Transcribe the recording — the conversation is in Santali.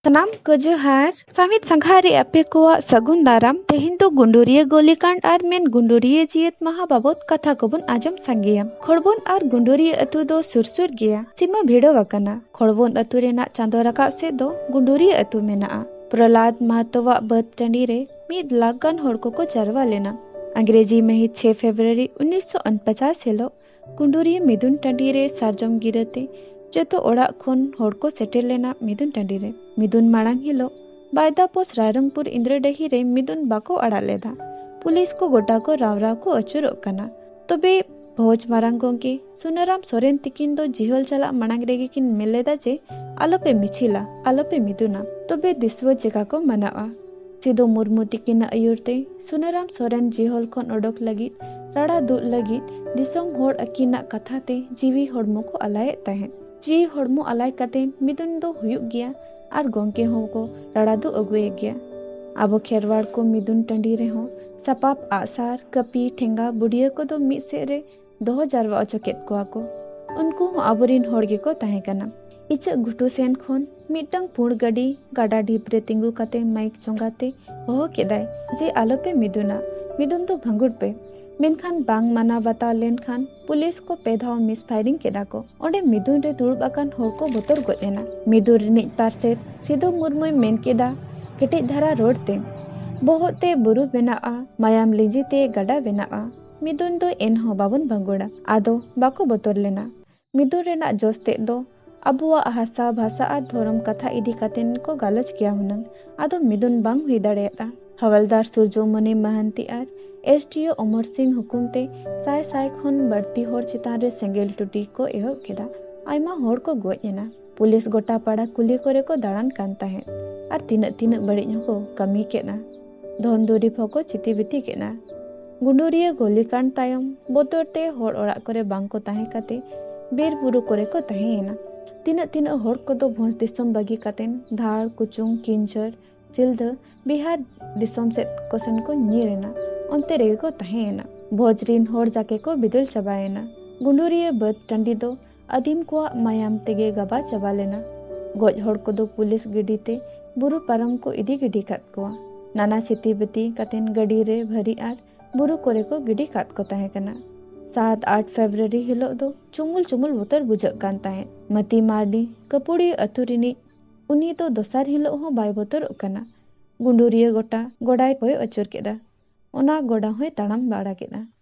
ᱥᱟᱱᱟᱢ ᱠᱚ ᱡᱚᱦᱟᱨ ᱥᱟᱢᱤᱛ ᱥᱟᱸᱜᱷᱟ ᱨᱮ ᱟᱯᱮ ᱠᱚᱣᱟᱜ ᱥᱟᱹᱜᱩᱱ ᱫᱟᱨᱟᱢ ᱛᱮᱦᱮᱧ ᱫᱚ ᱜᱩᱸᱰᱩᱨᱤᱭᱟᱹ ᱜᱚᱞᱤᱠᱟᱸᱰ ᱟᱨ ᱢᱮᱱ ᱜᱩᱸᱰᱩᱨᱤᱭᱟᱹ ᱡᱤᱭᱟᱹᱛ ᱢᱟᱦᱟ ᱵᱟᱵᱚᱛ ᱠᱟᱛᱷᱟ ᱠᱚᱵᱚᱱ ᱟᱸᱡᱚᱢ ᱥᱟᱸᱜᱮᱭᱟ ᱠᱷᱚᱲᱵᱚᱱ ᱟᱨ ᱜᱩᱸᱰᱩᱨᱤᱭᱟᱹ ᱟᱹᱛᱩ ᱫᱚ ᱥᱩᱨ ᱥᱩᱨ ᱜᱮᱭᱟ ᱥᱤᱢᱟᱹ ᱵᱷᱤᱲᱟᱹᱣ ᱟᱠᱟᱱᱟ ᱠᱷᱚᱲᱵᱚᱱ ᱟᱹᱛᱩ ᱨᱮᱱᱟᱜ ᱪᱟᱸᱫᱚ ᱨᱟᱠᱟᱵ ᱥᱮᱫ ᱫᱚ ᱜᱩᱸᱰᱩᱨᱤᱭᱟᱹ ᱟᱹᱛᱩ ᱢᱮᱱᱟᱜᱼᱟ ᱯᱨᱚᱞᱟᱫ ᱢᱟᱦᱟᱛᱚᱣᱟᱜ ᱵᱟᱹᱫᱽ ᱴᱟᱺᱰᱤ ᱨᱮ ᱢᱤᱫ ᱞᱟᱠᱷ ᱜᱟᱱ ᱦᱚᱲ ᱠᱚᱠᱚ ᱡᱟᱨᱣᱟ ᱞᱮᱱᱟ ᱟᱝᱜᱽᱨᱮᱡᱤ ᱢᱟᱹᱦᱤᱛ ᱪᱷᱮ ᱯᱷᱮᱵᱨᱩᱣᱟᱨᱤ ᱩᱱᱤᱥᱥᱚ ᱩᱱᱯᱚᱪᱟᱥ ᱦᱤᱞᱳᱜ ᱠᱩᱸᱰᱩᱨᱤᱭᱟᱹ ᱢᱤᱫᱩᱱ ᱴᱟᱺᱰᱤ ᱨᱮ ᱥᱟᱨᱡᱚᱢ ᱜᱤᱨᱟᱹ ᱛᱮ ᱡᱚᱛᱚ ᱚᱲᱟᱜ ᱠᱷᱚᱱ ᱦᱚᱲ ᱠᱚ ᱥᱮᱴᱮᱨ ᱞᱮᱱᱟ ᱢᱤᱫᱩᱱ ᱴᱟᱺᱰᱤ ᱨᱮ᱾ ᱢᱤᱫᱩᱱ ᱢᱟᱬᱟᱝ ᱦᱤᱞᱚᱜ ᱵᱟᱭᱫᱟ ᱯᱚᱥ ᱨᱟᱭᱨᱚᱝᱯᱩᱨ ᱤᱸᱫᱽᱨᱟᱹᱰᱟᱹᱦᱤ ᱨᱮ ᱢᱤᱫᱩᱱ ᱵᱟᱠᱚ ᱟᱲᱟᱜ ᱞᱮᱫᱼᱟ᱾ ᱯᱩᱞᱤᱥ ᱠᱚ ᱜᱚᱴᱟ ᱠᱚ ᱨᱟᱣ ᱨᱟᱣ ᱠᱚ ᱟᱹᱪᱩᱨᱚᱜ ᱠᱟᱱᱟ᱾ ᱛᱚᱵᱮ ᱵᱷᱚᱡᱽ ᱢᱟᱨᱟᱝ ᱜᱚᱢᱠᱮ ᱥᱩᱱᱟᱹᱨᱟᱢ ᱥᱚᱨᱮᱱ ᱛᱤᱠᱤᱱ ᱫᱚ ᱡᱤᱦᱚᱞ ᱪᱟᱞᱟᱜ ᱢᱟᱬᱟᱝ ᱨᱮᱜᱮ ᱠᱤᱱ ᱢᱮᱱ ᱞᱮᱫᱼᱟ ᱡᱮ ᱟᱞᱚ ᱯᱮ ᱢᱤᱪᱷᱤᱞᱟ, ᱟᱞᱚ ᱯᱮ ᱢᱤᱫᱩᱱᱟ᱾ ᱛᱚᱵᱮ ᱫᱤᱥᱣᱟᱹ ᱪᱮᱠᱟ ᱠᱚ ᱢᱟᱱᱟᱣᱜᱼᱟ? ᱥᱤᱫᱚ ᱢᱩᱨᱢᱩ ᱛᱤᱠᱤᱱᱟᱜ ᱟᱹᱭᱩᱨ ᱛᱮ ᱥᱩᱱᱟᱹᱨᱟᱢ ᱥᱚᱨᱮᱱ ᱡᱤᱦᱚᱞ ᱠᱷᱚᱱ ᱚᱰᱚᱠ ᱞᱟᱹᱜᱤᱫ ᱨᱟᱲᱟ ᱫᱩᱜ ᱞᱟᱹᱜᱤᱫ ᱫᱤᱥᱚᱢ ᱦᱚᱲ ᱟᱹᱠᱤᱱᱟᱜ ᱠᱟᱛᱷᱟ ᱛᱮ ᱡᱤᱣᱤ ᱦᱚᱲᱢᱚ ᱠᱚ ᱟᱞᱟᱭᱮᱫ ᱛᱟᱦᱮᱸᱫ᱾ ᱡᱤᱣᱤ ᱦᱚᱲᱢᱚ ᱟᱞᱟᱭ ᱠᱟᱛᱮ ᱢᱤᱫᱩᱱ ᱫᱚ ᱦᱩᱭᱩᱜ ᱜᱮᱭᱟ ᱟᱨ ᱜᱚᱢᱠᱮ ᱦᱚᱸ ᱠᱚ ᱨᱟᱲᱟ ᱫᱩᱜ ᱟᱹᱜᱩᱭᱮ ᱜᱮᱭᱟ᱾ ᱟᱵᱚ ᱠᱷᱮᱨᱣᱟᱲ ᱠᱚ ᱢᱤᱫᱩᱱ ᱴᱟᱺᱰᱤ ᱨᱮᱦᱚᱸ ᱥᱟᱯᱟᱵ ᱟᱜᱼᱥᱟᱨ, ᱠᱟᱹᱯᱤ, ᱴᱷᱮᱸᱜᱟ, ᱵᱩᱰᱭᱟᱹ ᱠᱚᱫᱚ ᱢᱤᱫ ᱥᱮᱫ ᱨᱮ ᱫᱚᱦᱚ ᱡᱟᱨᱣᱟ ᱚᱪᱚ ᱠᱮᱫ ᱠᱚᱣᱟ ᱠᱚ ᱩᱱᱠᱩ ᱦᱚᱸ ᱟᱵᱚᱨᱤᱱ ᱦᱚᱲ ᱜᱮᱠᱚ ᱛᱟᱦᱮᱸ ᱠᱟᱱᱟ ᱤᱪᱟᱹᱜ ᱜᱷᱩᱴᱩ ᱥᱮᱱ ᱠᱷᱚᱱ ᱢᱤᱫᱴᱟᱝ ᱯᱩᱬ ᱜᱟᱹᱰᱤ ᱜᱟᱰᱟ ᱰᱷᱤᱯ ᱨᱮ ᱛᱤᱸᱜᱩ ᱠᱟᱛᱮ ᱢᱟᱭᱤᱠ ᱪᱚᱸᱜᱟ ᱛᱮ ᱦᱚᱦᱚ ᱠᱮᱫᱟᱭ ᱡᱮ ᱟᱞᱚᱯᱮ ᱢᱤᱫᱩᱱᱟ ᱢᱤᱫᱩᱱ ᱫᱚ ᱵᱷᱟᱸᱜᱩᱲ ᱯᱮ ᱢᱮᱱᱠᱷᱟᱱ ᱵᱟᱝ ᱢᱟᱱᱟᱣ ᱵᱟᱛᱟᱣ ᱞᱮᱱᱠᱷᱟᱱ ᱯᱩᱞᱤᱥ ᱠᱚ ᱯᱮ ᱫᱷᱟᱣ ᱢᱤᱥ ᱯᱷᱟᱭᱨᱤᱝ ᱠᱮᱫᱟ ᱠᱚ ᱚᱸᱰᱮ ᱢᱤᱫᱩᱱ ᱨᱮ ᱫᱩᱲᱩᱵ ᱟᱠᱟᱱ ᱦᱚᱲ ᱠᱚ ᱵᱚᱛᱚᱨ ᱜᱚᱡ ᱮᱱᱟ ᱢᱤᱫᱩᱱ ᱨᱤᱱᱤᱡ ᱯᱟᱨᱥᱮᱛ ᱥᱤᱫᱩ ᱢᱩᱨᱢᱩᱭ ᱢᱮᱱ ᱠᱮᱫᱟ ᱠᱮᱴᱮᱡ ᱫᱷᱟᱨᱟ ᱨᱚᱲ ᱛᱮ ᱵᱚᱦᱚᱜ ᱛᱮ ᱵᱩᱨᱩ ᱵᱮᱱᱟᱜᱼᱟ ᱢᱟᱭᱟᱢ ᱞᱤᱸᱡᱤ ᱛᱮ ᱜᱟᱰᱟ ᱵᱮᱱᱟᱜᱼᱟ ᱢᱤᱫᱩᱱ ᱫᱚ ᱮᱱᱦᱚᱸ ᱵᱟᱵᱚᱱ ᱵᱟᱸᱜᱩᱲᱟ ᱟᱫᱚ ᱵᱟᱠᱚ ᱵᱚᱛᱚᱨ ᱞᱮᱱᱟ᱾ ᱢᱤᱫᱩᱱ ᱨᱮᱱᱟᱜ ᱡᱚᱥ ᱛᱮᱫ ᱫᱚ ᱟᱵᱚᱣᱟᱜ ᱦᱟᱥᱟ, ᱵᱷᱟᱥᱟ ᱟᱨ ᱫᱷᱚᱨᱚᱢ ᱠᱟᱛᱷᱟ ᱤᱫᱤ ᱠᱟᱛᱮᱱ ᱠᱚ ᱜᱟᱞᱚᱪ ᱠᱮᱭᱟ ᱦᱩᱱᱟᱹᱝ ᱟᱫᱚ ᱢᱤᱫᱩᱱ ᱵᱟᱝ ᱦᱩᱭ ᱫᱟᱲᱮᱭᱟᱫᱼᱟ᱾ ᱦᱟᱣᱟᱞᱫᱟᱨ ᱥᱩᱨᱡᱚᱢᱚᱱᱤ ᱢᱟᱦᱟᱱᱛᱤ ᱟᱨ ᱮᱥᱰᱤᱳ ᱚᱢᱚᱨ ᱥᱤᱝ ᱦᱩᱠᱩᱢ ᱛᱮ ᱥᱟᱭ ᱥᱟᱭ ᱠᱷᱚᱱ ᱵᱟᱹᱲᱛᱤ ᱦᱚᱲ ᱪᱮᱛᱟᱱ ᱨᱮ ᱥᱮᱸᱜᱮᱞ ᱴᱩᱴᱤ ᱠᱚ ᱮᱦᱚᱵ ᱠᱮᱫᱟ᱾ ᱟᱭᱢᱟ ᱦᱚᱲ ᱠᱚ ᱜᱚᱡ ᱮᱱᱟ᱾ ᱯᱩᱞᱤᱥ ᱜᱚᱴᱟ ᱯᱟᱲᱟ ᱠᱩᱞᱦᱤ ᱠᱚᱨᱮ ᱠᱚ ᱫᱟᱲᱟᱱ ᱠᱟᱱ ᱛᱟᱦᱮᱸᱫ ᱟᱨ ᱛᱤᱱᱟᱹᱜ ᱛᱤᱱᱟᱹᱜ ᱵᱟᱹᱲᱤᱡ ᱦᱚᱸᱠᱚ ᱠᱟᱹᱢᱤ ᱠᱮᱫᱼᱟ᱾ ᱫᱷᱚᱱ ᱫᱩᱨᱤᱵᱽ ᱦᱚᱸᱠᱚ ᱪᱤᱛᱤᱵᱤᱛᱤ ᱠᱮᱫᱼᱟ ᱜᱩᱰᱩᱨᱤᱭᱟᱹ ᱜᱚᱞᱤᱠᱟᱱᱰ ᱛᱟᱭᱚᱢ ᱵᱚᱛᱚᱨ ᱛᱮ ᱦᱚᱲ ᱚᱲᱟᱜ ᱠᱚᱨᱮ ᱵᱟᱝ ᱠᱚ ᱛᱟᱦᱮᱸ ᱠᱟᱛᱮ ᱵᱤᱨ ᱵᱩᱨᱩ ᱠᱚᱨᱮ ᱠᱚ ᱛᱟᱦᱮᱸᱭᱮᱱᱟ ᱛᱤᱱᱟᱹᱜ ᱛᱤᱱᱟᱹᱜ ᱦᱚᱲ ᱠᱚᱫᱚ ᱵᱷᱚᱸᱡᱽ ᱫᱤᱥᱚᱢ ᱵᱟᱹᱜᱤ ᱠᱟᱛᱮ ᱫᱷᱟᱲ ᱠᱩᱪᱩᱝ ᱠᱤᱧᱡᱷᱟᱹᱨ ᱥᱤᱞᱫᱟᱹ ᱵᱤᱦᱟᱨ ᱫᱤᱥᱚᱢ ᱥᱮᱫ ᱠᱚ ᱥᱮᱱ ᱠᱚ ᱧᱤᱨ ᱮᱱᱟ ᱚᱱᱛᱮ ᱨᱮᱜᱮ ᱠᱚ ᱛᱟᱦᱮᱸᱭᱮᱱᱟ ᱵᱷᱚᱸᱡᱽ ᱨᱤᱱ ᱦᱚᱲ ᱡᱟᱠᱮ ᱠᱚ ᱵᱤᱫᱟᱹᱞ ᱪᱟᱵᱟᱭᱮᱱᱟ ᱜᱩᱰᱩᱨᱤᱭᱟᱹ ᱵᱟᱹᱫᱽ ᱴᱟᱺᱰᱤ ᱫᱚ ᱟᱹᱫᱤᱢ ᱠᱚᱣᱟᱜ ᱢᱟᱭᱟᱢ ᱛᱮᱜᱮ ᱜᱟᱵᱟ ᱪᱟᱵᱟ ᱞᱮᱱᱟ᱾ ᱜᱚᱡ ᱦᱚᱲ ᱠᱚᱫᱚ ᱯᱩᱞᱤᱥ ᱜᱟᱹᱰᱤ ᱛᱮ ᱵᱩᱨᱩ ᱯᱟᱨᱚᱢ ᱠᱚ ᱤᱫᱤ ᱜᱤᱰᱤ ᱠᱟᱫ ᱠᱚᱣᱟ᱾ ᱱᱟᱱᱟ ᱪᱷᱤᱛᱤ ᱵᱤᱛᱤ ᱠᱟᱛᱮᱱ ᱜᱟᱹᱰᱤ ᱨᱮ ᱵᱷᱟᱹᱨᱤ ᱟᱨ ᱵᱩᱨᱩ ᱠᱚᱨᱮ ᱠᱚ ᱜᱤᱰᱤ ᱠᱟᱫ ᱠᱚ ᱛᱟᱦᱮᱸ ᱠᱟᱱᱟ᱾ ᱥᱟᱛ ᱟᱴ ᱯᱷᱮᱵᱽᱨᱩᱣᱟᱨᱤ ᱦᱤᱞᱚᱜ ᱫᱚ ᱪᱩᱢᱩᱞ ᱪᱩᱢᱩᱞ ᱵᱚᱛᱚᱨ ᱵᱩᱡᱷᱟᱹᱜ ᱠᱟᱱ ᱛᱟᱦᱮᱸᱫ᱾ ᱢᱟᱹᱛᱤ ᱢᱟᱨᱰᱤ, ᱠᱟᱹᱯᱩᱲᱤᱭᱟᱹ ᱟᱹᱛᱩ ᱨᱤᱱᱤᱡ, ᱩᱱᱤ ᱫᱚ ᱫᱚᱥᱟᱨ ᱦᱤᱞᱚᱜ ᱦᱚᱸ ᱵᱟᱭ ᱵᱚᱛᱚᱨᱚᱜ ᱠᱟᱱᱟ᱾ ᱜᱩᱸᱰᱩᱨᱤᱭᱟᱹ ᱜᱚᱴᱟ ᱜᱚᱰᱟᱭ ᱠᱚᱭᱚᱜ ᱟᱹᱪᱩᱨ ᱠᱮᱫᱼᱟ᱾ ᱚᱱᱟ ᱜᱚᱰᱟ ᱦᱚᱸᱭ ᱛᱟᱲᱟᱢ ᱵᱟᱲᱟ ᱠᱮᱫᱼᱟ᱾